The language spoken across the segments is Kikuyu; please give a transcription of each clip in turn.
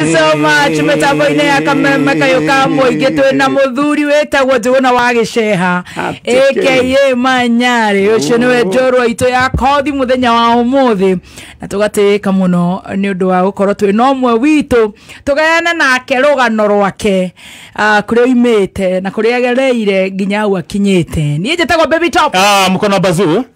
so much mĩtambo-inĩ ya kameme kayũ ka mũingĩ twĩ na mũthuri wĩtagwo njũgũna wa gĩceha aka manyarĩ ũcio nĩwe njorwa itũ ya kothi mũthenya wa ũmũthĩ na tũgatĩĩka mũno nĩ ũndũ wa gũkorwo twĩ na ũmwe witũ tũgayane nake rũgano rwake ah, kũrĩa oimĩte na kũrĩa agereire nginya hau akinyĩte niĩ njĩtagwo baby top Ah, mkono bazu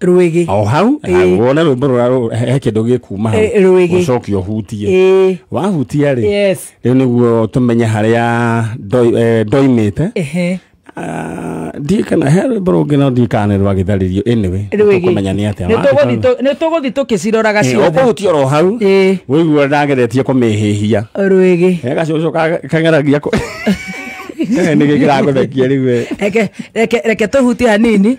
rwĩgĩ o hau Ĩĩ. na wone rwĩmbo rũra rũ- he he kĩndũ gĩkuma hau Ĩĩ, rwĩgĩ. ũcoke ũhutie Ĩĩ. wahutia rĩ yes rĩu nĩguo tũmenye harĩa ndoi- eh, ndoimĩte ehe Ah, ndiĩ kana he rwĩmbo rũngĩ no ndiĩ kana nĩ rwa gĩtharĩrio anyway rwĩgĩ tũkũmenya nĩ atĩa Nĩtũgũthiĩ tũ- nĩtũgũthiĩ tũkĩciroraga Eh, ciothe ũkũhutia oro hau Ĩĩ. wĩigua ndageretie kũmĩhĩhia rwĩgĩ he gacucu ka- kang'aragia kũ- Kaga nĩkĩ kĩragũthekia rĩu we. reke reke reke tũhutie hanini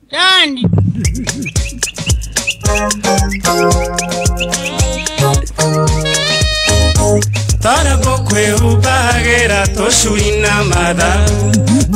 Done. tarako kwĩhumbagĩra tũcui na matha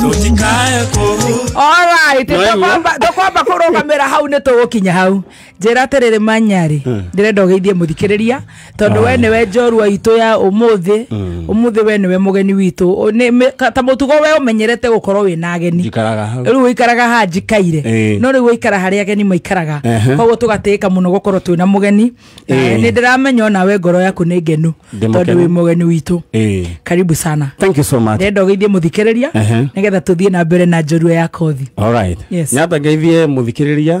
tũtikae kũhu Alright, No, nĩguo. tũkwamba tũkwamba kũrũgamĩra hau nĩ tũgũkinya hau njĩra atĩrĩrĩ manyarĩ ndĩrenda ũgeithie mũthikĩrĩria tondũ we nĩwe njorua itũ ya ũmũthĩ ũmũthĩ we nĩwe mũgeni witũ Ũ- nĩ- mĩ- ka- ta mũtugo we ũmenyerete gũkorwo wĩ na ageni njikaraga hau rĩu ũikaraga haha njikaire Ĩĩ. no rĩu ũikara harĩa ageni maikaraga Ehe. koguo tũgatĩĩka mũno gũkorwo twĩ na mũgeni na Ĩĩ. nĩ ndĩramenya onawe ngoro yaku nĩ ngenu Ndĩ tondũ mũkenu. wĩ mũgeni witũ Ĩĩ. karibu sana thank you so much ndĩrenda ũgeithie mũthikĩrĩria Ehe. nĩgetha tũthiĩ na mbere na njorua ya kothi Alright. Yes. nyata ngeithie mũthikĩrĩria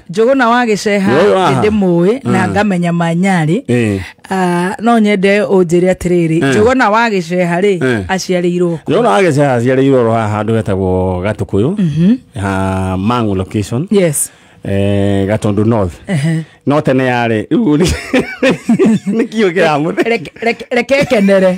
njũgũna wa gĩceha Nĩ ũyũ haha? ndĩmũĩ na ngamenya manyarĩ Eh. Ah, no nyende ũnjĩre atĩrĩrĩ njũgũna wa gĩceha rĩ Eh. aciarĩirwo kũ? Njona agĩceha aciarĩirwo oro haha handũ hetagwo Gatukũyũ ha Mang'u location yes eh, Gatundu North Ehe. no tene yarĩ rĩu nĩ- nĩ kiugo kĩramũthe Reke- reke- reke kenere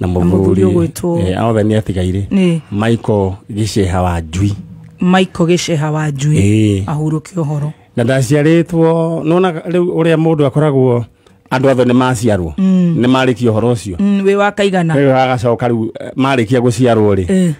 na mũthuri ũgwĩtwo- eh, othe nĩ atigaire Nĩ. maiko gĩceha wa njui maiko gĩceha wa njui Ĩĩ. ahurũke ũhoro na ndaciarĩtwo nona rĩu ũrĩa mũndũ akoragwo andũ othe nĩ maciarwo nĩ marĩkia ũhoro ũcio Mm, wĩ wa kaigana rĩu agacoka rĩu eh, marĩkia gũciarwo rĩ Eh.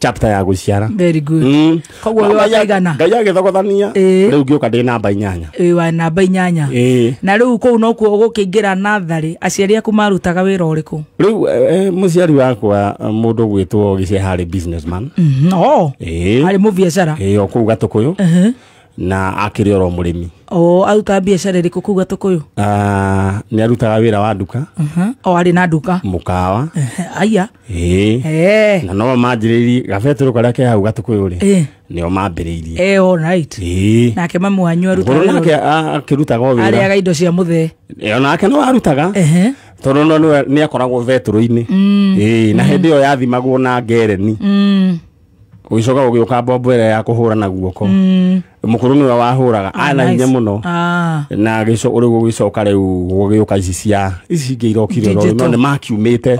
chapter ya guciara very good Mm. koguo we Ngai- wakaigana ngai agĩthogothania Ĩĩ. rĩu ngĩũka ndĩ namba inyanya ĩĩ wa namba inyanya Ĩĩ. na rĩu kũu nokuo ũgũkĩingĩra natharĩ aciari aku marutaga wĩra ũrĩkũ rĩu eh, eh, mũciari wakwa eh, mũndũ ũgwĩtwo gĩcĩa harĩ businessman Mhm, o Ĩĩ. arĩ mũbiacara Ĩĩ, o kũu gatũkũyũ Ehe. na akĩrĩ oro mũrĩmi o aruta biacara ĩrĩkũ kũu gatũkũyũ Ah, nĩ arutaga wĩra wa nduka Mhm. o arĩ na nduka mũkawa aya ĩĩ Eh, na no manjĩrĩirie gabetũrũ karĩa ke hau gatũkũyũ rĩ Eh. nĩo mambĩrĩirie eh, all right. ĩĩ nake mamu wanyu aruta ngũrũ wĩra nake ũrĩkũ? a- akĩrutaga o wĩra arĩaga indo cia mũthee Eh, o nake no arutaga Ehe. tondũ no nĩwe- nĩakoragwo vetũrũ-inĩ ĩĩ na hĩndĩ ĩyo yathimagwo na ngereni Mm. ũgĩcoka ũgĩũka mbombo ĩrĩa ya kũhũra na guoko mũkũrũ nĩwe wahũraga ah, ana hinya mũno ah. na rĩu ũgĩcoka rĩu gũgĩũka ici cia ici ingĩ irokire no nĩ makiumĩte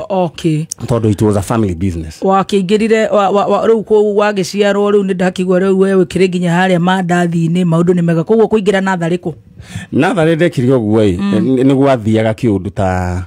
tondũ it was a family business wakĩingĩrire rĩu wagĩciarwo rĩu nĩ ndakĩigua rĩu we wĩkĩrĩ nginya harĩa mandathi-inĩ maũndũ nĩ mega koguo kũingĩra natharĩ kũ natharĩ ndekire ũguo ĩ mm. nĩ gwathiaga kĩũndũ ta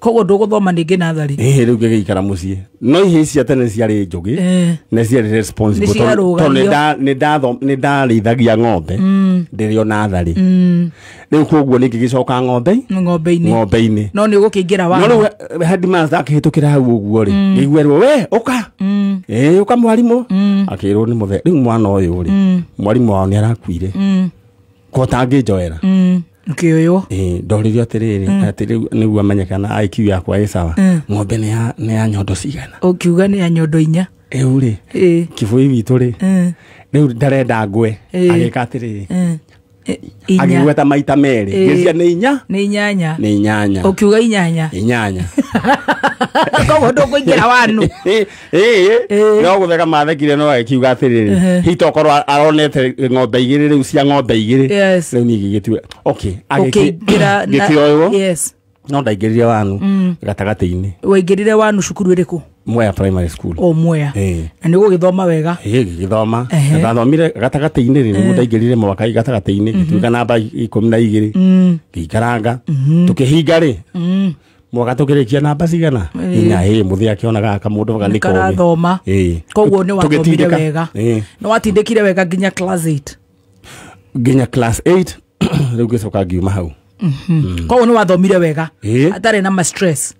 koguo ndũgũthoma ningĩ natharĩ ĩhĩ rĩu ngĩgĩikara mũciĩ no ihĩ ici cia tene ciarĩ njũgĩ Eh. na ciarĩ responsible Nĩ tondũ- ciarũgamio. tondũ nĩ nda- nĩ ndatho- nĩ ndarĩithagia ng'ombe ndĩrĩ o natharĩ rĩu koguo nĩ ngĩgĩcoka ng'ombe ng'ombe-inĩ ng'ombe-inĩ no nĩ ũgũkĩingĩra no wa rĩu he- headmaster akĩhĩtũkĩra hau ũguo rĩ ngĩiguerwo we ũka ĩĩ ũka mwarimũ akĩrwo nĩ mũthe rĩu mwana ũyũ rĩ mwarimũ wao nĩ arakuire ko tangĩnjoera ngĩoywo Eh, ndoririo atĩrĩrĩ atĩ rĩu nĩguo amenyekana IQ yakwa ĩ sawa ng'ombe nĩ ya- nĩ ya nyondo cigana ũkiuga nĩ ya nyondo inya rĩu rĩ Eh, kĩbũi witũ rĩ eh, rĩu ndarenda ngwe Eh. agĩka atĩrĩrĩ eh, eh, inya agĩgweta maita merĩ Eh. gĩcia nĩ inya nĩ inyanya nĩ inyanya ũkiuga inyanya inyanya koguo ndũkũingĩra wanu ĩĩ Ĩĩ. no gũtheka mathekire no agĩkiuga atĩrĩrĩ hita okorwo aronete ng'ombe igĩrĩ rĩu cia ng'ombe igĩrĩ Yes. rĩu niĩ ngĩgĩtua okay ũkĩingĩra na- ngĩkĩoywo yes no ndaingĩrire wanu gatagatĩ-inĩ waingĩrire wanu cukuru ĩrĩkũ mwea primary school o mwea Ĩĩ. na nĩ ũgũgĩthoma wega ĩĩ ngĩgĩthoma Ehe. ndathomire gatagatĩ-inĩ rĩ nĩguo ndaingĩrire mwaka gatagatĩ-inĩ ngĩtuĩka namba ikũmi na igĩrĩ ngĩikaranga tũkĩhinga rĩ mwaka tũkĩrĩkia namba cigana inya ĩ mũthĩ akĩonaga kamũndũ ga nĩ kogi karathoma Ĩĩ. koguo nĩ wathomire Tũgĩtindĩka. wega Ĩĩ. nĩ watindĩkire wega nginya class 8 nginya class 8 rĩu ngĩcoka ngiuma hau koguo nĩ wathomire wega Ĩĩ. atarĩ na ma stress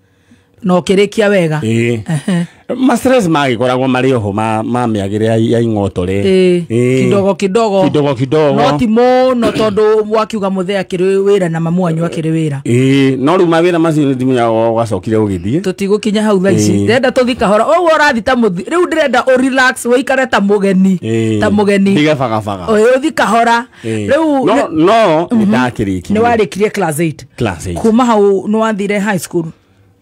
na ũkĩrĩkia wega Ĩĩ. Ehe. mastress magĩkoragwo marĩ oho ma ma mĩagĩre ya- ya ing'oto rĩ Ĩĩ, Ĩĩ. kidogo kidogo kidogo no kidogo ti mũno tondå wakiuga må thä akärä wä ra na mamu wanyu akärä wä ra Ĩĩ, no rĩu mawĩra macio nĩ thimũ yao ũgacokire ũgĩthiĩ tå tigå kinya hau tha ici Ĩĩ. ndärenda tå thi kahora å guo å rathi ta må rä u ndä renda å relax wä ikare ta må geni Ĩĩ. ta må geni Ndige bagabaga å thi kahora Ĩĩ. rä u no no nĩ ndakĩrĩkirie nä warä kirie class eight class eight. kuma hau nä wathire high school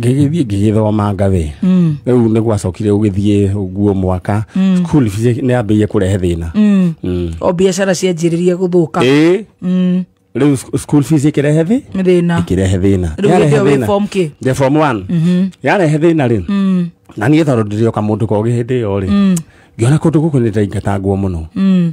ngĩgĩthiĩ ngĩgĩthomanga wĩ Mm. rĩu nĩ gwacokire ũgĩthiĩ ũguo mwaka school fees nĩ yambĩrĩirie kũrehe thĩna Mm. Mm. o biacara cianjĩrĩria gũthũka Ĩĩ, Mm. rĩu sc- school fees ĩkĩrehe thĩ thĩna ĩkĩrehe thĩna rĩu Yarehe hĩndĩ ĩyo wĩ thĩna. form kĩ Ndĩ form one. yarehe thĩna rĩ Mm. na niĩ tondũ ndĩrĩ o kamũndũ kogĩ hĩndĩ ĩyo rĩ ngĩona kũndũ gũkũ nĩ ndaingatangwo mũno Mm.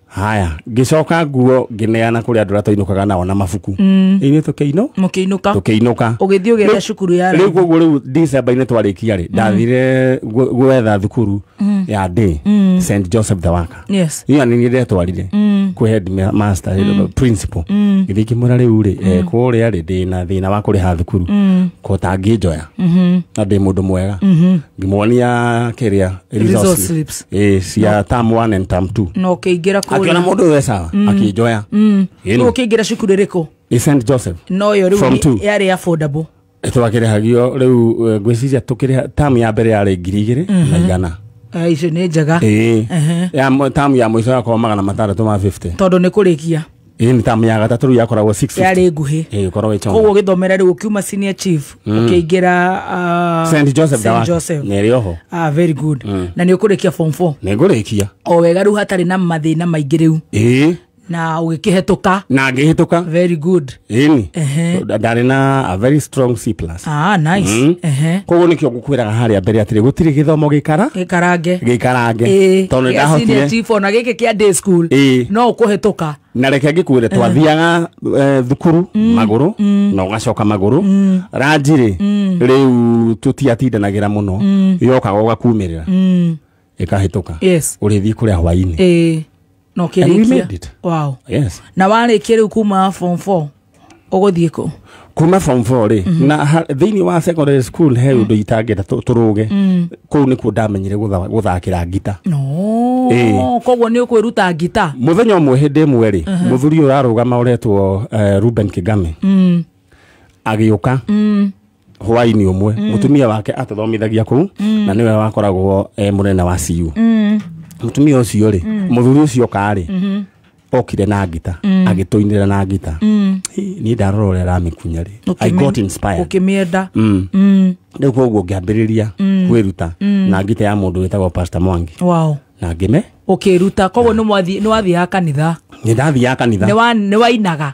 haya ngĩcoka nguo ngĩneana kũrĩ andũ arĩa twainũkaga nao na mabuku mm. ithuĩ tũkĩinũ mũkĩinũka tũkĩinũka ũgĩthiĩ ũgĩetha Rĩu- cukuru ya rĩu raithi koguo rĩu decemba-inĩ twarĩkia rĩ ndathire gwe- gwetha thukuru ya day st joseph the waka yes iyo nä ndetwarire kwä headmaster principal githä kä mwä ra rä u rä kå rä a rä ndä na thä na wa kå rä ha thukuru ko tangä njoya na ndä må ndå mwega ngä muonia kä rä a resource slips ä cia tam one and tam two na ũkĩingĩra akiona kũrĩa må ndå we sawa akä njoya Ĩĩ rĩu nĩ. ũkĩingĩra cukuru ĩrĩkũ ä st joseph no yo Form rĩu two. nĩ- yarĩ affordable twakä rä hagio rä u ngwä ciria tå kä rä tam ya mbere yarä ngiri igä rä na igana Eh, icio nĩ njega ä Ehe. tam ya må ico yakorwo magana matandatå ma 50 tondũ nĩ kũrĩkia ĩĩ nĩ tamu ya gatatũ rĩu yakoragwo 650. yarĩ nguhĩ Ĩĩ, gũkorwo ĩtonga. koguo gĩthomera rĩu ũkiuma senior chief ũkĩingĩra ah, Saint Joseph Saint Dawaki. Joseph. Nĩ ĩrĩ oho. Ah, very good na nĩ ũkũrĩkia form 4 nĩ ngũrĩkia o wega rĩu hatarĩ na mathĩna maingĩ rĩu ĩĩ na ũgĩkĩhetũka na ngĩhĩtũka very good ĩni Ehe. ndarĩ na a very strong c plus Ah, nice. Mm. Ehe. koguo nĩkĩo ngũkwĩraga harĩa mbere atĩrĩ gũtirĩ gĩthomo gĩkara Gĩkarange. gĩkarange Ĩĩ, tondũ gĩa senior ndahotire chief, ona gĩkĩ kĩa day school Ĩĩ. no ũkũhĩtũka na reke ngĩkwĩre twathiaga eh, thukuru magũrũ na ũgacoka magũrũ ranjirĩ rĩu tũtiatindanagĩra mũno yokaga ũgakumĩrĩra ĩkahĩtũka yes ũrĩthiĩ kũrĩa hwainĩ ĩĩ na And we made ũkĩrĩkia it. wow yes na warĩkia rĩu kuma form 4 ũgũthiĩ kũ kuma form four rĩ na ha- thĩinĩ wa secondary school he ũndũ itangĩenda tũ- tũrũge kũu nĩkuo ndamenyire gũtha- gũthakĩra ngita no Ĩĩ. koguo nĩ ũkwĩruta ngita mũthenya ũmwe hĩndĩ ĩmwe rĩ mũthuri ũyũ ũrarũgama ũretwo eh, ruben kigame agĩũka hwaini umwe mm. mutumia wake atathomithagia kuu mm. na niwe wakoragwo e munene wa ciu mm. mutumia ucio ri mm. muthuri ucio kari mm -hmm okire na ngita mm. agituinira na ngita mm. ni ndarora uria ramikunya ri i got inspired ukimienda mm. mm. riu koguo ngiambiriria mm. kwiruta mm. na ngita ya mundu witagwo pastor mwangi wow na ngime ukiruta koguo ni wathi ni wathi ya kanitha ni ndathi ya kanitha ni wa ni wainaga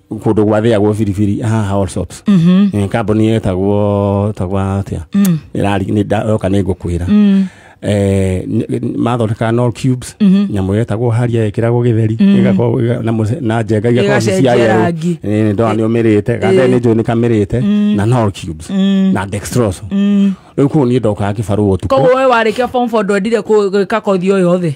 kundå gwathäagwo biribiri haha Allsops. Eh, kambuni ä tagwo tagwo atä yoka nä ngå kwä ra mathondekaga no cubes nyamå yetagwo haria ĩkĩragwo gĩtheri ĩgakorwo ĩga- na mũce- na njenga igakorwo ci cia Ĩgacenjia yerũ. rangi. Ĩĩ, ndona nĩ ũmĩrĩte ganda nĩ njũĩ nĩ kamĩrĩte na no cubes na dextrose rĩu kũu niĩ ndokaga kĩbarũa ũtukũ koguo we warä kia ndwendire gwä ka kothi o yothe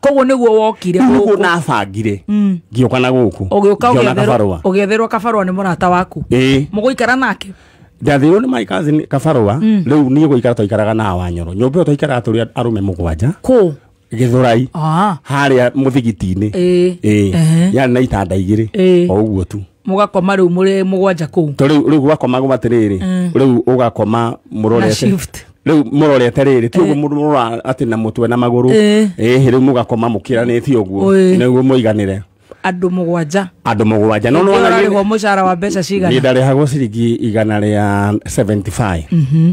koguo nĩguo wokire nĩguo gũkũ nabangire Mm. ngĩũka na gũkũ ũgĩũka ngĩona ũgĩetherwo- kabarũa ũgĩetherwo kabarũa nĩ mũrata waku ĩĩ mũgũikara nake ndathirwo nĩ my cousin kabarũa rĩu niĩ gũikara twaikaraga na wanyoro nyũmba ĩyo twaikaraga tũrĩ arũme mũgwanja kũ gĩthũrai Ah, harĩa mũthigiti-inĩ Ĩĩ. Ĩĩ. Ehe. yarĩ na itanda igĩrĩ Ĩĩ. o ũguo tu mugakoma riu muri mugwanja kuu to riu riu gwakoma gwa atiriri mm. riu ugakoma murorete riu murorete riri ti uguo eh. murora ati na mutwe na maguru eh, eh riu mugakoma mukiranitie uguo niguo muiganire andu mugwanja andu mugwanja no no ndarihwo mucara wa mbeca cigana ndarihagwo ciringi igana ria 75 mhm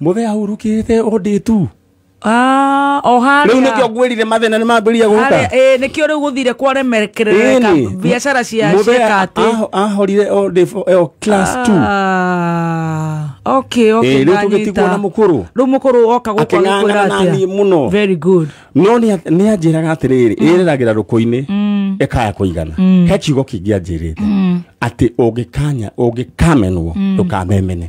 muthe ahurukite undi tu Ah, o harĩa. Rĩu nĩkĩo ngwĩrire mathĩna nĩ mambĩrĩria gũka. Harĩa nĩkĩo rĩu gũthire kwaremekerereka biacara cia ciĩka atĩ. Ahorire o class 2. Ah, okay, okay. Rĩu tũgĩtigwo na mũkũrũ. Rĩu mũkũrũ oka gũkwa gũkwĩra atĩa. mũno. Very good. No nĩ anjĩraga atĩrĩrĩ, mm. ĩrĩragĩra rũkũ-inĩ mm. ĩkaya kũigana. Mm. He kiugo kĩngĩ anjĩrĩte atĩ ũngĩkanya ũngĩkamenwo ndũkamemene.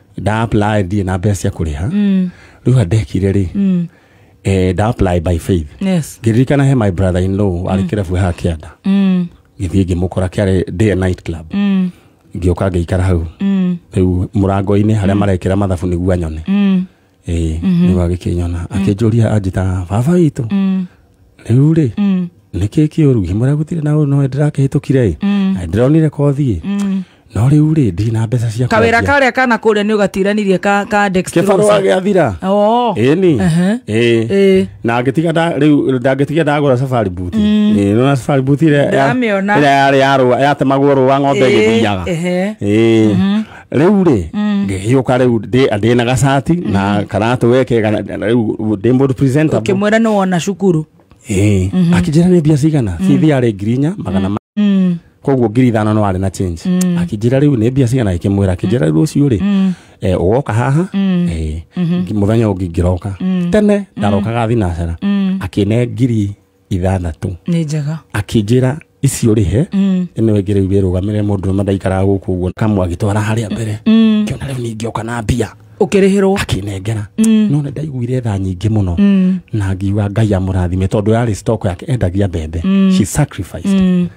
nda apply ndirĩ na mbeca cia kũrĩha rĩu ha ndekire rĩ eh, nda apply by faith yes ngĩririkana he my brother in law arĩ kĩrabu haha kĩanda mm. gĩthiĩ ngĩmũkora kĩarĩ day and night club Mm. ngĩũka ngĩikara hau Mm. rĩu mũrango-inĩ harĩa marekĩra mathabu nĩguo anyone Mm. ĩĩ Mhm. nĩguo agĩkĩnyona akĩnjũria anjĩtaga baba witũ Mm, rĩu rĩ mm, nĩ kĩ kĩũru ngĩmwĩra gũtirĩ na ũũ no ndĩrakĩhĩtũkire ĩ mm, Na ndĩronire kothiĩ mm. no rĩu rĩ ndirĩ na mbeca cia kawĩra kwendia. karĩa kana kũrĩa nĩ ũgatiranirie ka ka kĩbarũa dextrosa gĩathira Oo. ĩni Ehe. ĩĩ Ĩĩ. na ngĩtiga nda- rĩu ndangĩtiga ndagũra safari buti Ĩĩ, nona safari buti ĩrĩa ya- Ndamĩona. ĩrĩa yarĩ ya rũa yatemagwo rũa ng'ombe Ĩĩ, ĩgĩthiaga ehe. Ĩĩ. rĩu rĩ ngĩgĩũka rĩu ndĩ- ndĩ na gacati na karatũ weke rĩu ndĩ mũndũ presentable ukimwira ni wona cukuru Ĩĩ. akĩnjĩra nĩ mbia cigana bithi yarĩ ngiri inya magana ma Mm. koguo ngiri ithano no arĩ na change akĩnjĩra rĩu nĩ mbia cigana ĩkĩmwĩra akĩnjĩra rĩu ũcio rĩ eh, ũgoka haha eh, ngi- mũthenya ũngĩ ngĩroka tene ndarokaga thinacera akĩne ngiri ithathatũ nä njega akĩnjĩra icio rĩhe Mm, ĩno ĩngĩ rĩu wĩrũgamĩre mũndũ ũmwe ndaikaraga gũkũ ũguo kamwe agĩtwara harĩa mbere mm, kĩona rĩu ningĩoka na mbia å kä rä hä rwo akĩnengera Mm. no nĩ ndaiguire tha nyingĩ mũno Mm. na ngiuga ngai amũrathime tondå yarĩ stock yake endagia mbembe she sacrificed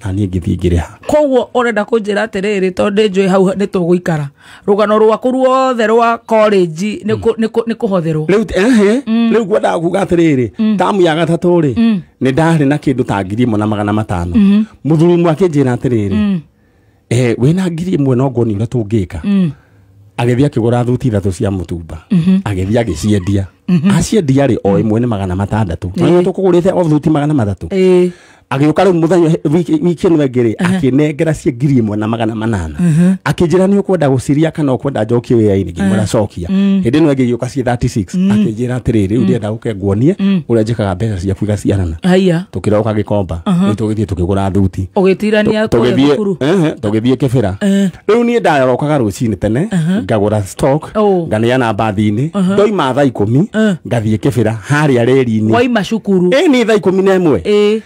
na niĩ ngĩthiĩ ngĩrĩha koguo ũrenda kũnjĩra atĩrĩrĩ tondũ ndĩ njũĩ hau nĩ tũgũikara rũgano rwaku ruothe rwa college nĩ kũ- nĩ kũ- nĩ kũhotherwo rĩu ehe rĩu ngwendaga kuga atĩrĩrĩ tamu ya gatatũ rĩ nĩ ndarĩ na kĩndũ ta ngiri ĩmwe na magana matano mũthuri ũmwe akĩnjĩra atĩrĩrĩ eh, wĩna ngiri ĩmwe no nguonia ũrĩa tũngĩka mm. agĩthiĩ akĩgũra thuti ithatũ cia mũtumba mhm. agĩthiĩ agĩciendia mhm. aciendia rĩ o ĩmwe nĩ magana matandatũ na tũkũgũrĩte o thuti magana matatũ agĩũka rĩu mũthenya wiki ĩno ĩngĩ rĩ akĩnengera cia ngiri ĩmwe na magana manana akĩnjĩra nĩ ũkwenda gũciria kana ũkwenda njokie wĩra-inĩ ngĩmwĩra cokia kũnjĩtĩkia hĩndĩ ĩno ĩngĩ igĩũka ciĩ 36 akĩnjĩra atĩrĩ rĩu ndĩenda gũke nguonie ũrĩa njĩkaga mbeca ciaku igaciarana haya tũkĩroka gĩkomba nĩ tũgĩthiĩ tũkĩgũra thuti ũgĩtirania kũrĩa tũgĩthiĩ thukuru ehe, tũgĩthiĩ kĩbĩra rĩu niĩ ndarokaga rũcinĩ tene ngagũra stock Oh. nganeana mbathi-inĩ ndoima thaa ikũmi ngathiĩ kĩbĩra harĩa reri-inĩ waima cukuru ĩni thaa ikũmi na ĩmwe ĩ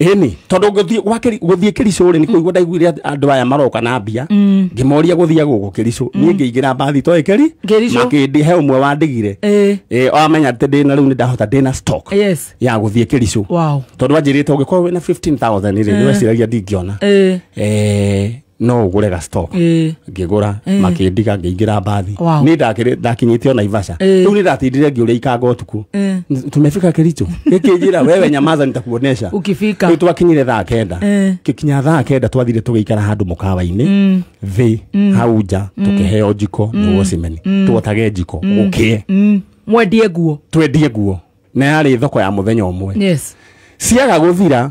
Ĩni tondũ ngũthiĩ gwa kĩri- gũthiĩ kĩricũ rĩ nĩ kũigua ndaiguire at- andũ aya maroka na mbia ngĩmoria gũthiaga gũkũ kĩricũ niĩ ngĩingĩra mbathi toĩ kĩri Kĩricũ. makĩndĩ he ũmwe wandigire Eh. Eh, amenya atĩ ndĩna rĩu nĩ ndahota ndĩna stock Yes. ya gũthiĩ kĩricũ Wow. tondũ anjĩrĩte ũngĩkorwo wĩna 15000 rĩ nĩweciragia ndingĩona Eh. Eh, no ũgũre ga stock Eh. ngĩgũra makĩndiga ngĩingĩra mbathi Wow. nĩ ndakĩrĩ- ndakinyĩte o naivasha Eh. rĩu nĩ ndatindire ngĩũrĩa ikanga ũtukũ Eh. N- tumefika kericho gĩkĩnjĩra wewe nyamaza nitakuonesha Ukifika. rĩu twakinyire thaa kenda Eh. gĩkinya thaa kenda twathire tũgĩikara handũ mũkawa-inĩ thĩ hau nja tũkĩheo njiko nĩ wocimeni twotage njiko gũkĩe Mm. mwendie nguo twendie nguo na yarĩ thoko ya mũthenya ũmwe yes ciaga gũthira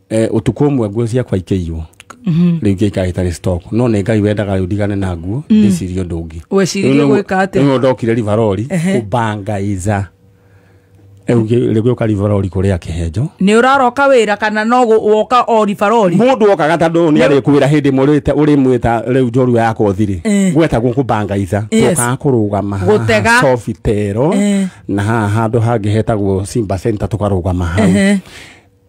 Eh, utuku umwe nguo ciakwa ikĩiywo rĩu ingĩ ikarĩ itarĩ stock no nĩ ngai wendaga rĩu ndigane na nguo ndĩcirie ũndũ ũngĩ wecirie gwĩka atĩa rĩu ndokire rivarori Ehe. kũbangaiza rĩu ngĩ- rĩu gĩũka rivarori kũrĩa kĩhenjo nĩ ũraroka wĩra kana no gũ- woka o ribarori mundu wokaga ta ndå nä arä kwä ra hä ndä å rä mwä ta rä u njorua yakwa å thirä Eh. gwetagwo kå bangaiza Yes. twokaga kå rå gama Gũtega. cobitero Eh. na haha handå hangä hetagwo simba center tå karå gama hau Ehe.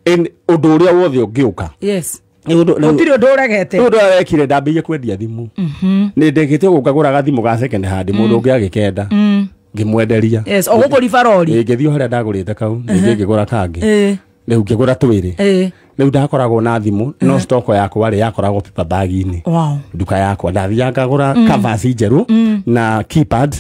in undu uria wothe ungiuka yes gutiri undu uregete undu arekire ndambie kwendia thimu mhm. ni ndekite guka guraga thimu ga second hand mundu mm. ungi agikenda mm. ngimwenderia yes ogukuriba rori ngithio haria ndagurite kau ningi uh-huh. ngigura kangi eh. riu ngigura twiri eh. riu ndakoragwo na thimu no uh-huh. stock yakwa ri yakoragwo paper bag ini nduka yakwa ndathianga ngagura mm. covers njeru mm. na keypad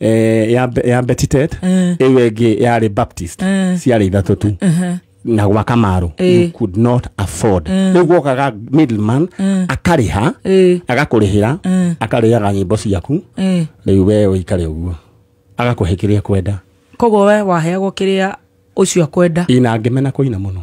eh, ya Be- ya betitet Eh. ĩyo ĩngĩ yarĩ baptist Eh. ciarĩ ithatũ tu Aha. na gwa kamarũ Eh. you could not afford rĩu gwokaga middleman akarĩha Eh. agakũrĩhĩra Eh. akarĩaga nyĩmbo ciaku Eh. rĩu wee ũikare ũguo agakũhe kĩrĩa kwenda koguo we waheagwo kĩrĩa ũcio akwenda ina ngĩmena kũina mũno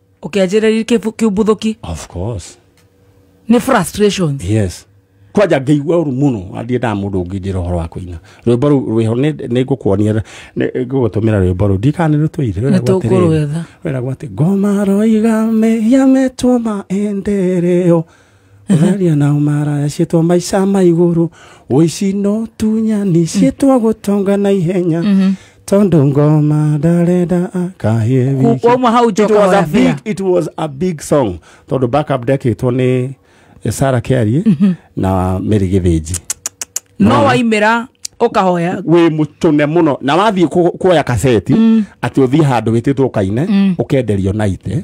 ũkĩanjĩrĩria kĩbu- kĩumbũthũki of course nĩ frustrations yes kwanja ngĩigua ũru mũno athiĩ nda mũndũ ũngĩ njĩra ũhoro wa kũina rwĩmbo rũu rwĩho nĩ- nĩ ngũkuonia nĩ- ngũgũtũmĩra rwĩmbo rũu ndikanĩ rũtũire Nĩ tũkũrwetha. wĩragwo atĩ ngoma roiga mehia metwo maendereo Aria nao maraya ciĩtwa maica ma igũrũ ũici no tunya nĩ ciĩtwa gũtonga na ihenya tondũ ngoma ndarenda akahie wiki Wauma hau it njoka was, a big, warabĩra. it was a big song tondå backup ndekĩtwo nĩ sara kiarie na mary gĩthĩnji No waimĩra ũkahoya. wä må tåne må no na wathiä kuoya kaseti atä å thiä handå wä tä two kaine å kenderio naite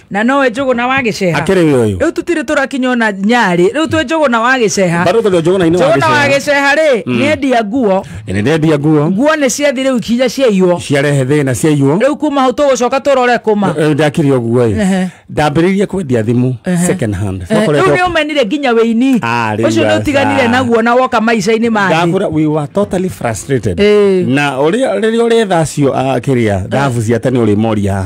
na nowe njũgũ na wagĩceha akĩrĩ wĩ ũyũ rĩu tũtirĩ tũrakinya ona nyarĩ rĩu twĩ njũgũ na wagĩceha bado tũrĩ njũgũ na inĩ njũgũ na wa wagĩceha rĩ nĩendia nguo gĩcera nĩndendia nguo nguo nĩ ciathi rĩu ikinya ciaiywo ciarehe thĩna ciaiywo rĩu kuma hau tũgũcoka tũrore kũma Eh, ndakire ũguo ĩ Ehe. ndambĩrĩirie kwendia thimũ second hand rĩu Twakoretwo- nĩ ũmenire nginya wĩini Ah, rĩu ũcio nĩ ũtiganire aca. naguo na woka maica-inĩ mathĩ ndagura we were totally frustrated Eh. na ũrĩa rĩrĩa ũrĩ thacio akĩrĩa thabu cia tene ũrĩ moria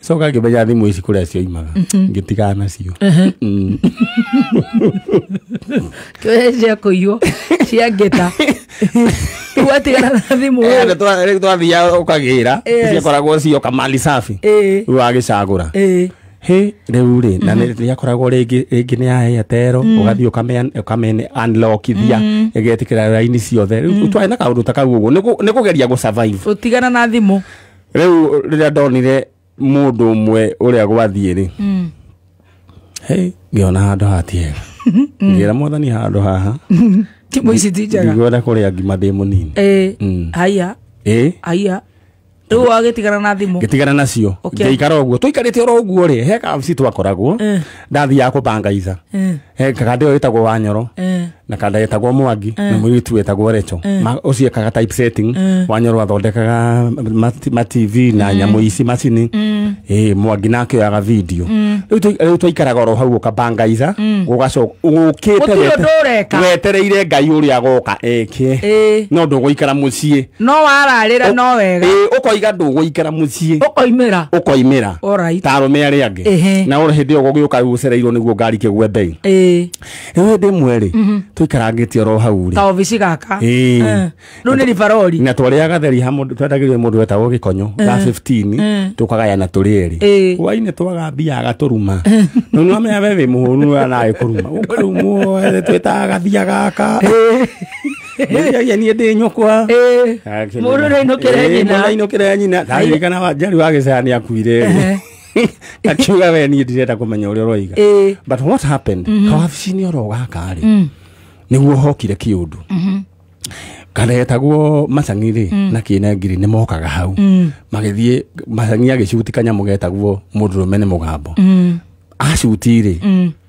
coka ngĩmenya thimũ ici kũrĩa cioimaga ngĩtigana nacio Mm. kĩoya cia kũiywo cia ngĩta rĩu watigana na thimũ Eh, andũ twa- rĩu twathiaga ũkagĩra Yes. ciakoragwo cio kamali safi Ĩĩ. rĩu wagĩcagũra Ĩĩ. hä rä u rä na nä akoragwo rä ngä nä yahä tero å gathiä å kamene anlokithia ägetä kä ra raini ciothe rä u twarä na kaå ndå ta kau å guo nä kå geria gå survive. gũtigana na thimũ rĩu rĩrĩa ndonire mũndũ ũmwe ũrĩa gwathiĩ-rĩ Mm. hey, ngĩona handũ hatiega ngĩra mwathani handũ haha Timu ici ti njega. ndigwenda kũrĩa ngima ndĩ mũnini Eh, Mm. haya, ĩ haya. Rĩu wagĩtigana na thimũ. ngĩtigana nacio Okay. ngĩikara ũguo tũikarĩte oro ũguo rĩ he kabci twakoragwo Eh. ndathiaga kũbangaitha Eh. Eh, kakande ũyũ wĩtagwo wa nyoro Eh. na kanda getagwo mwangi na mũirĩtu wetagwo recho Ma- ũcio ekaga type setting wanyoro athondekaga mat- ma tv na nyamũ ici macini ĩ mwangi nake oyaga video Rĩu twa- rĩu twaikaraga oro hau ũkabangaitha ũgacoka ũkĩte Gũtirĩ wete- ũndũ ũreka. wetereire ngai ũrĩa agoka eke Ĩ. no ndũgũikara mũciĩ no wararĩra no wega ĩĩ ũkoiga ndũgũikara mũciĩ ũkoimĩra ũkoimĩra Alright. ta arũme arĩa angĩ Ehe. na ũrĩ hĩndĩ ĩyo gũgĩũka ũcereirwo nĩguo ngari kĩgwe mbei ĩĩ rĩu hĩndĩ ĩmwe rĩ tũikarangĩtie oro hau rĩ ka obici gaka Ĩĩ. Eh, rĩu nĩ ribarori na twarĩaga theri ha mũndũ twendagĩrio mũndũ wetagwo gĩkonyo ga 15 tũkagayana tũrĩ erĩ Ĩĩ. hwainĩ twaga mbia agatũruma no nĩ wamenya we wĩ mũhũnu we nawe kũruma ũkarumwo twĩtaga gathia gaka Mũiria niĩ ndĩ nyũkwa. Mũndũ ndainũkĩra nyina. Mũndũ ndainũkĩra nyina. Ndaririkana wa njari wa gĩcaya nĩ akuire. Akiuga we niĩ ndirenda kũmenya ũrĩa ũroiga. But what happened? Mhm. Kawabici-inĩ oro gaka rĩ. Mm. Nĩguo hokire kĩũndũ. Mhm. karetagwo macang'i rĩ mm. na kĩne ngiri nĩ mokaga hau mm. magĩthiĩ macang'i agĩcuti kanyamũ getagwo mũndũrũme nĩ mũgambo mm. acuti rĩ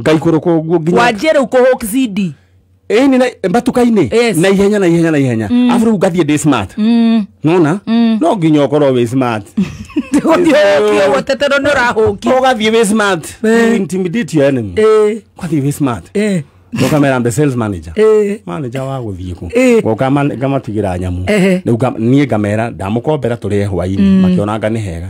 ngaikũrũka ũguo nginya wanjie rä u kå hå cindi ĩni na- mbatuka-inĩ Yes. na ihenya na ihenya na ihenya abu rĩu ngathiĩ ndĩ smart nona no nginya ũkorwo wĩ smart ndä gå thiä å kä å gweteterwo nä å rahå ki ũgathiĩ wĩ smart Eh. You intimidate your enemy ũgathiĩ wĩ smart ũkamera the sales manager manager wa gũthiĩ kũ Eh. ngoka ma- ngamatigĩra nyamũ Ehe. Rĩu nga- niĩ ngamera ndamukombera tũrĩe hwainĩ makĩonanga nĩ hega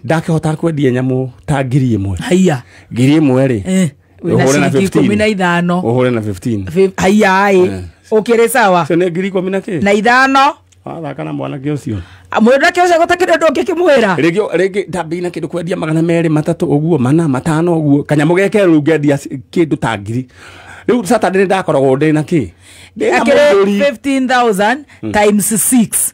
ndakĩhota kwendia nyamũ ta ngiri ĩmwe haiya ngiri ĩmwe rĩ Eh, wĩna ũhũre na ciringi ikũmi na 15 ithano ũhũre na 15 Fif- haiyaĩ Eh. ũkĩrĩ sawa cio nĩ ngiri ikũmi na kĩ na ithano wathaka na mwanake ũcio mwĩrake ũcio gũtakĩrĩ ũndũ ũngĩ kĩmwĩra rĩngĩ rĩngĩ ndambĩina kĩndũ kwendia magana merĩ matatũ ũguo mana matano ũguo kanyamũ geke rĩu ngendia c- kĩndũ ta ngiri rĩu saturday nĩ ndakoragwo ndĩ na kĩ Ndĩ na akĩrĩ mũthuri. 15000 times 6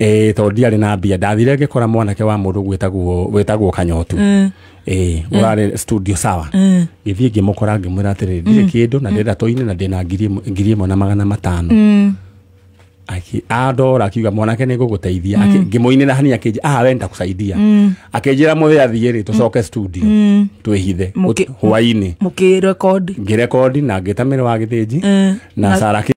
ĩĩ tondũ ndiarĩ na mbia ndathire ngĩkora mwanake wa mũndũ gwĩtagwo wĩtagwo kanyotu Mm. ĩĩ ũrarĩ studio sawa Mm. gĩthiĩ ngĩmũkora ngĩmwĩra atĩrĩ ndirĩ kĩndũ na ndĩrenda tũine na ndĩna ngiri ĩmwe- ngiri ĩmwe na magana matano Mm. Aki- andora akiuga mwanake nä ngå gå teithia ngä må inä ra hani akä ah we nä takåcaidia akä njä ra må thä athiä rä tå coke studio Mm. twä hithe Mũkĩ- hwainä Mũkĩrekondi. ngä rekondi na ngä tamä ra wa gä thä nji Mm. na Na- sara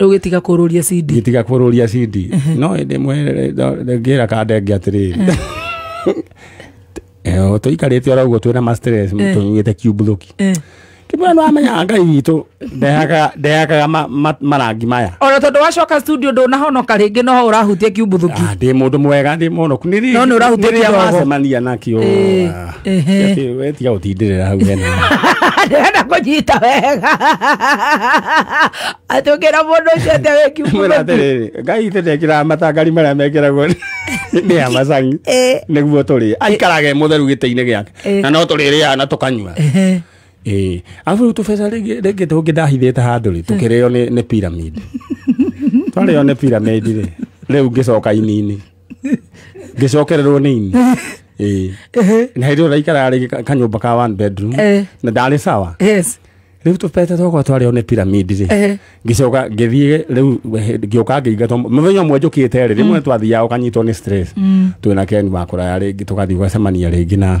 rä u gä tiga kå rå ria cindi ngĩtiga kũrũria cindi no ĩndĩ mwe ngĩra kandenge atĩrĩrĩ tũikarĩte oro ũguo twĩna mastres tũnyuĩte kiumbuthuki Eh. kĩmwe nĩ wamenya ngai witũ ndehakaga- ndehakaga ma- ma- marangi maya ona tondå wacoka studio ndå nahonoka rä ngä no å rahutia kiumbuthuki Ah, ndĩ mũndå mwega ndĩ mũhonoku nĩ No, nĩ ũrahutia kĩdogo. macemania nakio Eh. Ah. Atĩ, we tiga gũtindĩrĩra hau hena ndĩrenda kũnyita wega atũkĩra mũndũ ũcio atĩ mwĩra wĩkiuma atĩrĩrĩ ngai tĩtekĩraga matangari marĩa mekĩragwo nĩ amacangi Eh. nĩguo tũrĩ aikarage mũtheru gĩtĩ-inĩ gĩake Eh. na no tũrĩrĩaga na tũkanyua Ĩĩ. arabu rĩu tũbeca rĩngĩ rĩngĩ tũngĩ ndahithĩte handũ rĩ tũkĩrĩo nĩ nĩ pyramid twarĩo nĩ pyramid rĩ rĩu ngĩcoka ini-inĩ ngĩcokererwo nĩ ini Ĩĩ. Ehe. na hĩndĩ ĩyo ndaikara rĩ ka- kanyũmba ka one bedroom Eh. na ndarĩ sawa yes rĩu tũpete twakwa twarĩ one piramidi rĩ Ehe. ngĩcoka ngĩthiĩ rĩu he- ngĩũka ngĩingatwo mũthenya ũmwe njũkĩte rĩ rĩmwe twathiaga ũkanyitwo nĩ stress twĩ na keni wakũraya rĩngĩ tũgathiĩ ũgacemania rĩngĩ na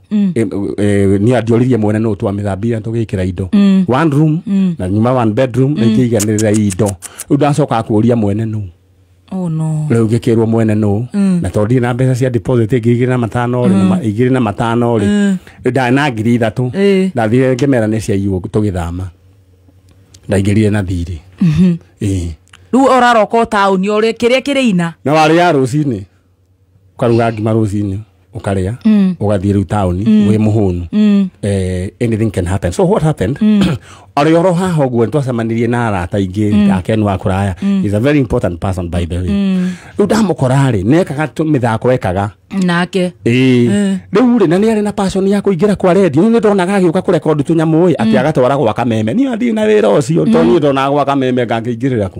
Mm. Eh, eh, ni andioririe mwene no twa mithambia tugikira indo mm. one room mm. na nyuma one bedroom mm. na ikiiganirira indo riu ndacoka kuria mwene nu oh no riu ngikirwo mwene nu mm. na to ndire na mbeca cia deposit ingi igiri na matano ri mm. igiri na matano ri mm. nda na ngiri ithatu Eh. ndathire ngimera ni cia iwo tugithama ndaingirire na thiri mm -hmm. eh riu oraroka tauni ore kiria kiri ina na warä ya rå cinä ukaruga ngima rucinĩ ukarĩa mm. ugathiĩ riu taoni mm. wĩ mũhũnu mm. eh, anything can happen so what happened mm. arĩ oro haha ũguo nĩtwacemanirie na arata ingĩ mm. yake nĩ wa kũraya mm. is a very important person by the way mm. rĩu ndamũkora rĩ nekaga mĩthako ekaga nake ĩĩ mm. rĩu rĩ na nĩ arĩ na passion ya kũingĩra kwa redio nĩ ndonaga agĩũka kũrekondi tũnyamũ ĩ atĩ mm. agatwara gwa kameme niĩ athiĩ na wĩra ũcio tondũ mm. niĩ ndonaga gwa kameme ngangĩingĩrĩra ku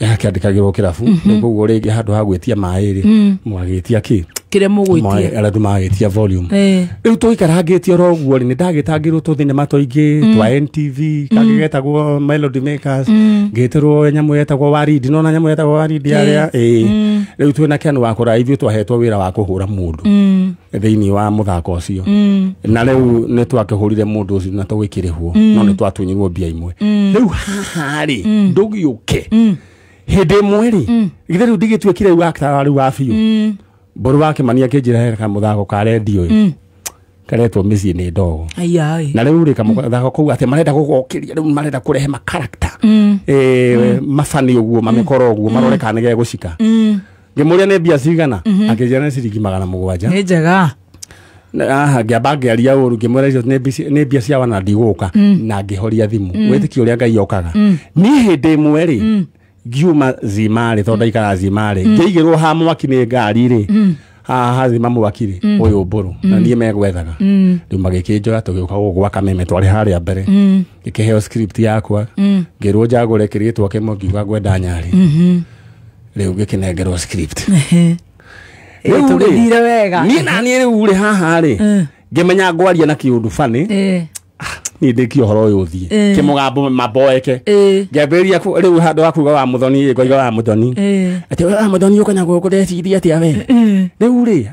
akĩandĩkagĩrwo kĩrabu rĩu koguo rĩngĩ handũ ha gwĩtia maĩ rĩ mwagĩtia kĩ kĩrĩa mũgwĩtia arĩa andũ magagĩtia volume Eh. rĩu tũikarangĩtie oro ũguo rĩ nĩ ndagĩtangĩrwo tũ thinema tũingĩ twa ntv kangĩ getagwo melody makers ngĩtĩrwo nyamũ yetagwo waridi nona nyamũ yetagwo waridi arĩa ĩĩ rĩu twĩna ken wakora ithuĩ twahetwo wĩra wa kũhũra mũndũ thĩinĩ wa mũthako ũcio mm. na rĩu nĩ twakĩhũrire mũndũ ũcio na tũgĩkĩrĩhwo mm. no nĩ twatunyirwo mbia imwe mm. rĩu haha rĩ mm. ndũgĩũke mm. hĩndĩ ĩmwe rĩ mm. githĩ rĩu ndigĩtuĩkire rĩu aktara rĩu wa biũ mm. mbũrũ wake mani akĩnjĩra he kamũthako ka redio mm karetwo mĩciĩ nĩ ndogo na rä u rä kamũthako kå u atä marenda gå gokä ria rä u marenda kå rehe makarakta mm. eh, mm. mabani å guo mamä koro å guo marore kana nä gä gå cika ngĩmũria nĩ mbia cigana akĩnjĩra nĩ ciringi magana mũgwanja nä njega aha ngĩamba ngĩaria ũru ngĩmwĩra icio nĩ mbici- nĩ mbia cia wana ndigũka na ngĩhoria thimũ wĩtĩkia ũrĩa ngai okaga niĩ hĩndĩ ĩmwe rĩ ngiuma zimarĩ tondũ ndaikara zimarĩ ngĩigĩrwo ha mwaki nĩ ngari rĩ haha hazima mwaki rĩ ũyũ mbũrũ na niĩ megwethaga rĩu magĩkĩnjoya tũgĩũka gũgwaka meme twarĩ harĩa mbere ngĩkĩheo script yakwa ngĩrwo njagũre kĩrĩtwa kĩmwe ngiuga ngwenda nyarĩ rĩu ngĩkĩnengerwo script Rĩu rĩ, tũgĩthire wega niĩ na niĩ rĩu rĩ haha rĩ ngĩmenya ngwaria na kĩũndũ fanĩ Eh, niä ndä kia å horo å yå å thiä Eh. kä må gambo mamboeke eh, ngäambä rä rä u handå wa kuga wa må thoni ngoiga wa må thoni eh, atä wa må thoni å kanyagwo kå ndeciria atä a we rä u rä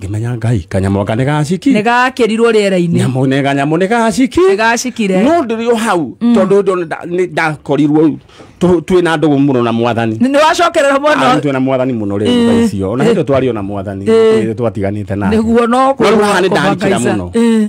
ngĩmenya ngai kanyamũ aka nĩ gaciki nä gakä rirwo rä era-inä nyamũ nĩ kanyamũ nĩ gaciki nä gacikire no ndĩrĩ o hau tondå ndona nda- nĩ- ndakorirwo tũ- twĩ na ndũgũ mũno na mwathani nä wacokerera Arĩ mwana twĩ na mwathani mũno rä tha icio ona hĩndä twarĩ o na mwathani Eh. Ĩĩ, twatiganĩte nake nä guo no No rĩu haha nĩ kũmakaca. ndakira mũno. Eh,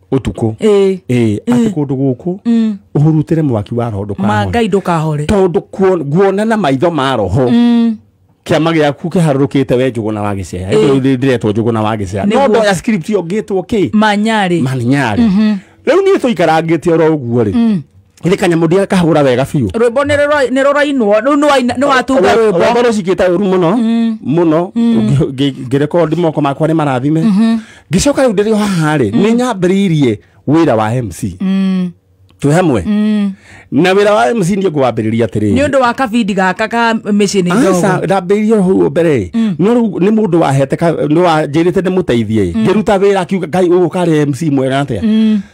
utuku eh eh ati kundu guku mm. uhurutire mwaki wa roho ndukahore mangai ndukahore tondu guona na maitho ma roho mm kiama giaku kiharurukite we njuguna wa gicea mm. ndiretwo njuguna wa gicea no ndoya script yo ngitwo ki manyari manyari riu nie tuikarangite oro uguo ri Githĩ kanyamũ ndia kahũra wega biũ. rwĩmbo nĩ rũra- nĩ rũrainwo rĩu nĩ waina- nĩ watunga Wa- rwĩmbo Wakorwo cikĩte ũru mũno mũno ngĩ- ngĩ- ngĩrekondi moko makwa nĩ marathime ngĩcoka rĩu ndĩrĩ o haha rĩ nĩ nyambĩrĩirie wĩra wa MC twĩ hamwe na wĩra wa MC ndiĩ ngwambĩrĩria nĩ atĩrĩrĩ ũndũ wa kabindi gaka ka mĩciĩ nĩ ndogo Aca ndambĩrĩirie hau mbere ĩ no rĩu nĩ mũndũ wahete ka- nĩ wanjĩrĩte ndĩmũteithie ĩ ngĩruta wĩra akiuga ngai ũgũkarĩ MC mwega atĩa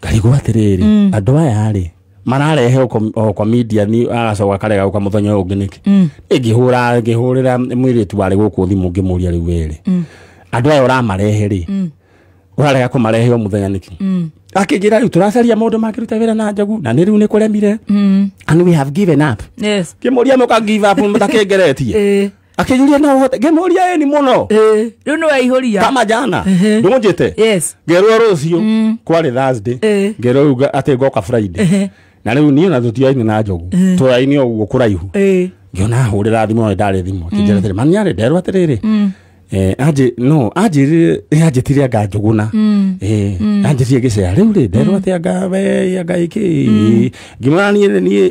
ngarigwo atĩrĩrĩ andũ aya rĩ mararehe o kwa- o kwa media ni agacoka akarega uka muthenya uyu ungi niki ngihura ngihurira mwiritu wari guku thimu ngimuria riu weri andu aya uramarehe ri urarega kumarehe o muthenya niki akingira riu turacaria maundu makiruta wira na njogu na ni riu ni kuremire and we have given up Yes. ngimuria muka give up mutakingeretie Eh. akĩnjũria na ũhote ngĩmũria ĩni mũno Eh, rĩu nĩ waihũria kama jana Ehe. ndũnjĩte yes ngerwo rũciũ kwarĩ thursday Eh. ngerwo rĩu nga- atĩ ngoka friday Ehe. na rĩu niĩ na tũtiaini na njogu tũraini ũguo kũraihu Eh, ngĩona ahũrĩra thimũ ĩyo ndarĩ thimũ akĩnjĩra atĩrĩ mami arĩ nderwo atĩrĩrĩ Eh, anjĩ no anjĩrire eh, anjĩtire anga njũgũna Eh, anjĩtire gĩcea rĩu rĩ nderwo atĩ anga we anga ĩkĩ ngĩmwĩra niĩ niĩ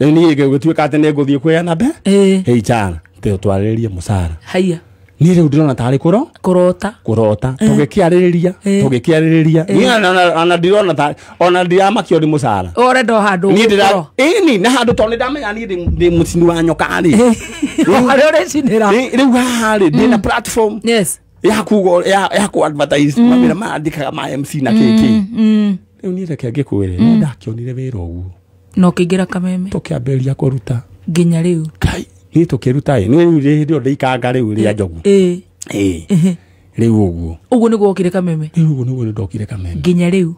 rĩu niĩ gĩgĩtuĩka atĩ nĩ ngũthiĩ kwĩyana mbe Eh, hei chara teo twarĩrĩrie mũcara haya niĩ rĩu ndĩrona tarĩ kũro kũrota kũrota tũgĩkĩarĩrĩria Eh. tũgĩkĩarĩrĩria niĩ ona- ona- ona ndirona ta ona ndiramakio nĩ mũcara ũrenda o handũ niĩ ndĩra ũgũkorwo. ĩni na handũ tondũ nĩndamenya niĩ ndĩ- ndĩ mũcini wa nyoka rĩ harĩa ũrĩcinĩra Rĩ- rĩu haha rĩ ndĩna platform yes ya kuga ũrĩa- ya ya kũ advertise mawĩra marandĩkaga ma mc na kk rĩu niĩ reke ngĩkwĩre no ndakĩonire wĩra ũguo no kĩingĩra kameme tũkĩambĩrĩria kũruta nginya rĩu kai niĩ tũkĩruta ĩ niĩ rĩu rĩ- hĩndĩ ĩyo ndĩikanga rĩu rĩa njogu ĩĩ ĩ rĩu ũguo ũguo nĩguo okire kameme rĩu ũguo nĩguo nĩndokire kameme nginya rĩu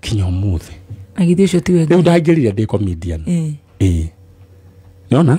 kinya ũmũthĩ na githĩ ũcio ti rĩu wengi ndaingĩrire ndĩ comedian ĩĩ ĩ nĩona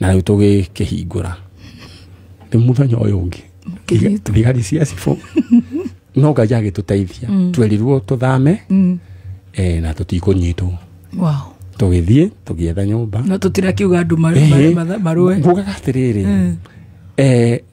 na rĩu tũgĩkĩhingũra nĩ mũthenya ũyũ ũngĩ Kĩnyitwo. thigari cia cibũ no ngai agĩtũteithia twerirwo tũthame eh, na tũtikũnyitwo Wow. tũgĩthiĩ tũgĩetha nyũmba no tũtirakiuga andũ maru- Ehe. matha- marũe ngugaga atĩrĩrĩ eh,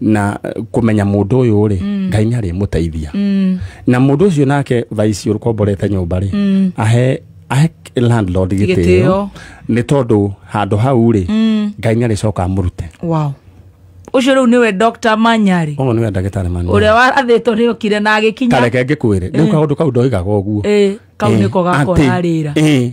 na kumenya mundu uyu ri mm. ngai ni ari muteithia mm. na mundu ucio nake thaici urukomborete nyumba ri mm. ahe ahe landlord gitio ni tondu handu hau ri mm. ngai ni ari coka amurute wow ucio riu niwe Dr Manyari uyu niwe ndagitari Manyari uria warathitwo ni ukire na agikinya tareke ngikwire riu eh. kaundu kau ndoigaga uguo eh kau eh. niko gakorarira eh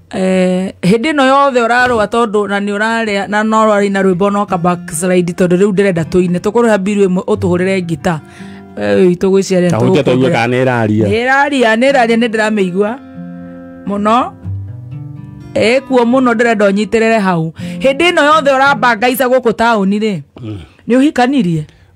Eh, hĩndĩ ĩno yothe ũrarũa tondũ na nĩ ũrarĩa na no ũrarĩ na rwĩmbo no ka backslide tondũ rĩu ndĩrenda tũine tũkũrĩha mbiru ĩmwe ũtũhũrĩre ngita we witũ gwĩciarĩra ta hũtia tũigue kana nĩ ĩraria nĩraria nĩraria nĩ ndĩramĩigua mũno ĩkuo mũno ndĩrenda ũnyitĩrĩre hau hĩndĩ ĩno yothe ũrambangaica gũkũ taũni rĩ nĩ ũhikanirie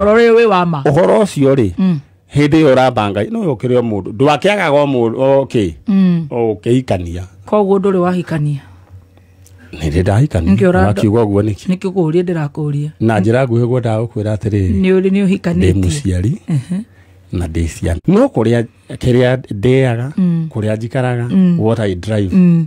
Ũhoro ũyũ wĩ wa ma. ũhoro ũcio rĩ hĩndĩ ĩyo ũratha ngai no yũkĩre o mũndũ ndwakĩagaga o mũndũ okĩ Mm. ũkĩhikania Koguo ndũrĩ wahikania. nĩndĩ ndahikania Nĩkĩo ũranda- wakiuga ũguo nĩkĩ Nĩ kĩkũũrie ndĩrakũũria. na njĩra nguhĩ guo ndagũkwĩra atĩrĩrĩ Nĩ ũrĩ nĩ ndĩ ũhikanĩtie. mũciari na ndĩ ciana no kũrĩa kĩrĩa ndĩaga kũrĩa njikaraga what I drive Mm.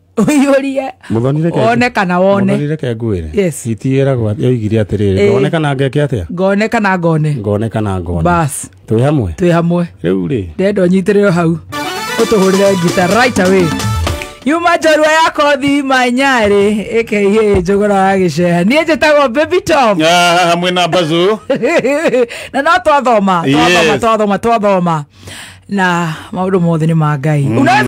ũiyũrie Mũthoni reke- wone kana wone Mũthoni reke ngwĩre Yes. hiti ĩragwo atĩ- yoigire atĩrĩrĩ Ĩĩ. ngone kana ngeke atĩa ngone kana ngone ngone kana ngone bas twĩ hamwe twĩ hamwe rĩu rĩ ndenda ũnyitĩrĩro hau ũtũhũrĩre ngita right away yuma njorua ya kothi manyarĩ ĩkĩihĩ njũgũra wa gĩceha niĩ njĩtagwo baby tom hamwe na mbazu na no twathoma twathoma Yes. twathoma twathoma na maũndũ mothe nĩ ma ngai Unaweza